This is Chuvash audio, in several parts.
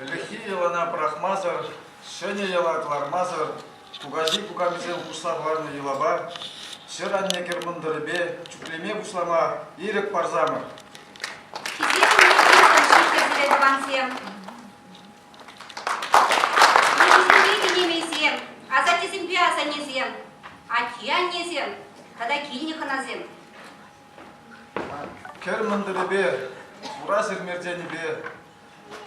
Ӗлӗкхи йӑлана пӑрахмасӑр, ҫӗнӗ йӑла кӑлармасӑр кукаҫи-кукамисем хушса хӑварнӑ йӑлапа, ҫӗр-анне-кӗр мӑнтӑрӗпе чӳклеме пуҫлама ирӗк парсамӑр! Ҫитсе тӑвансем! Мӑнкӑсемпе кинемейсем, асаттесемпе асаннесем, атте-аннесем тата килнӗ хӑнасем! Кӗр мӑнтӑрӗпе, хура сермертенӗпе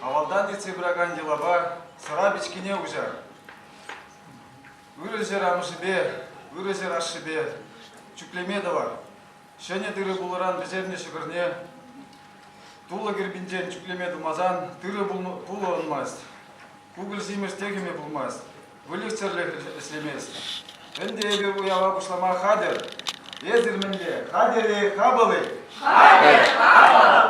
Авалтан ертсе пыракан йӑлапа сӑра пичкине уҫар. Ырӑ ҫӗр амӑшӗпе, ырӑ ҫӗр ашшӗпе чӳклеме тӑвар. Ҫӗнӗ тырӑ пулӑран пӗҫернӗ ҫӑкӑрне тулӑ кирпинчен чӳклеме тумасан тырӑ пулӑ ӑнмасть. Пупӑр симӗс техӗме пулмасть, выльӑх-чӗрлӗх ӗҫлемест. Ӗнтӗ эпир уява пуҫлама хатӗр. Эсир мӗнле, хатӗр-и, хапӑл-и? Хатӗр, хапӑл!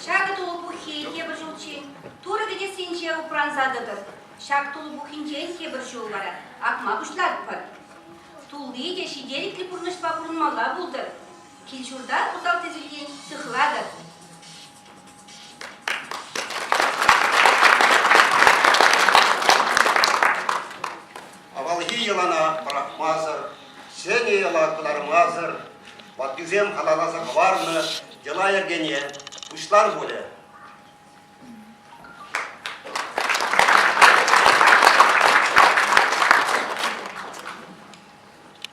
Ҫакӑ тулӑ пуххи тепӗр ҫулччен Турӑ кӗтессинче упранса тӑтӑр. Ҫак тулӑ пуххинчен тепӗр ҫул вара акма пуҫлатпӑр. Тулли те ҫителӗклӗ пурнӑҫпа пурӑнмалла пултӑр. Кил-ҫурта усал тӗсӳлтен сыхлатӑр. Авалхи йӑлана пӑрахмасӑр, ҫӗнӗ йӑла кӑлармасӑр ваттисем халалласа хӑварнӑ йӑла-йӗркене пуҫлар пулӗ.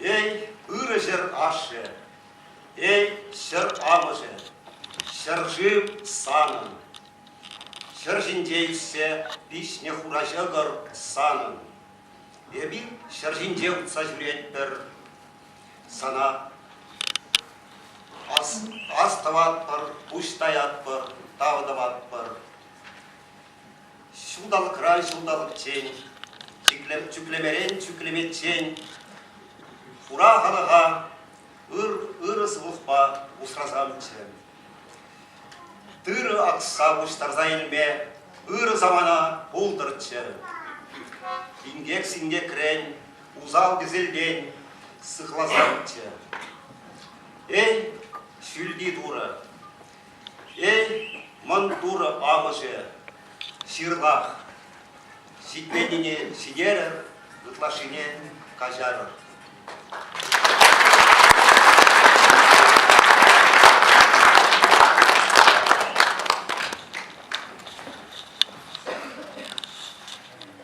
Эй, ырӑ ҫӗр ашшӗ, эй, ҫӗр амӑшӗ, ҫӗршыв санӑн. Ҫӗр ҫинче ишсе пиҫнӗ хура ҫӑкӑр санӑн. Эпир ҫӗр ҫинче утса ҫӳретпӗр, Сана ас, ас тӑватпӑр, пуҫ таятпӑр, тав тӑватпӑр. Ҫулталӑкран ҫулталӑкчен, чӳклемерен чӳклеметчен, хура халӑха ыр, ырӑ сывлӑхпа усрасамччӗ. Тырӑ акса пуҫтарса илме ырӑ самана пултӑрччӗ. Инкек-синкекрен усал кӗселтен сыхласамччӗ. Эй, ҫӳлти турӑ! Эй, мӑн турӑ амӑшӗ! Ҫырлах! Ҫитменнине ҫитерӗр, ытлашшине каҫарӑр.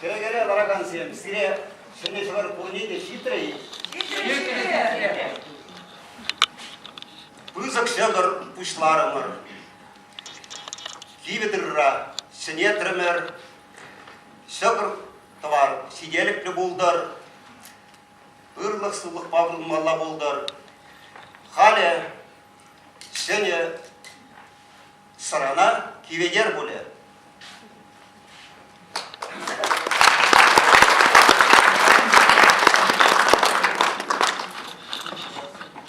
Тӗрекере ларакансем, сире ҫӗнӗ ҫӑвар пурне те ҫитрӗ-и? Пысӑк ҫӑкӑр пуҫларӑмӑр. Кивӗ тырра ҫӗнетрӗмӗр. Ҫӑкӑр тӑвар ҫителӗклӗ пултӑр. Ырлӑх-сывлӑхпа пурӑнмалла пултӑр. Халӗ ҫӗнӗ сӑрана Киведер пулӗ.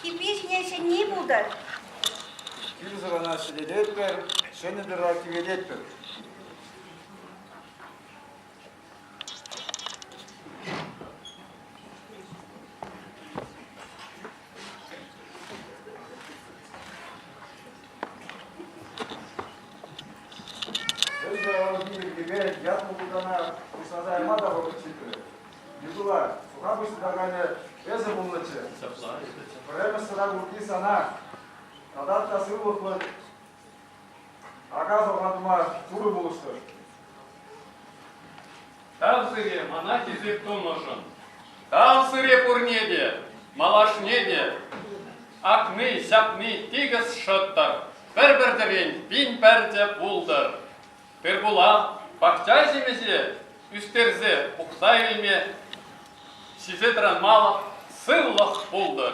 Кипи ҫине ҫӗнни пултӑр. Кил сӑрана ҫӗлететпӗр, ҫӗнӗ тӑра кивелетпӗр. Эсӗ ӑн пилӗккепе ятлӑ пултана пуҫласа яма та вӑхӑт ҫитрӗ. Микула, суха пуҫлаканӗ эсӗ пулнӑччӗ. Ҫапла. Пӗрремӗш сӑра курки сана тата та сывлӑхлӑ Ака сӑрлатма пурӑ пулӑштӑр. Тав сире мана хисеп тунӑшӑн. Тав сире пурне те, малашне те. Акни, ҫапни тикӗс шӑттӑр, пӗр-пӗртӗрен пин пӗртӗ пултӑр. Тырпула пахча ҫимӗҫе ӳстерсе пухса илме сисе тӑранмалӑх сывлӑх пултӑр.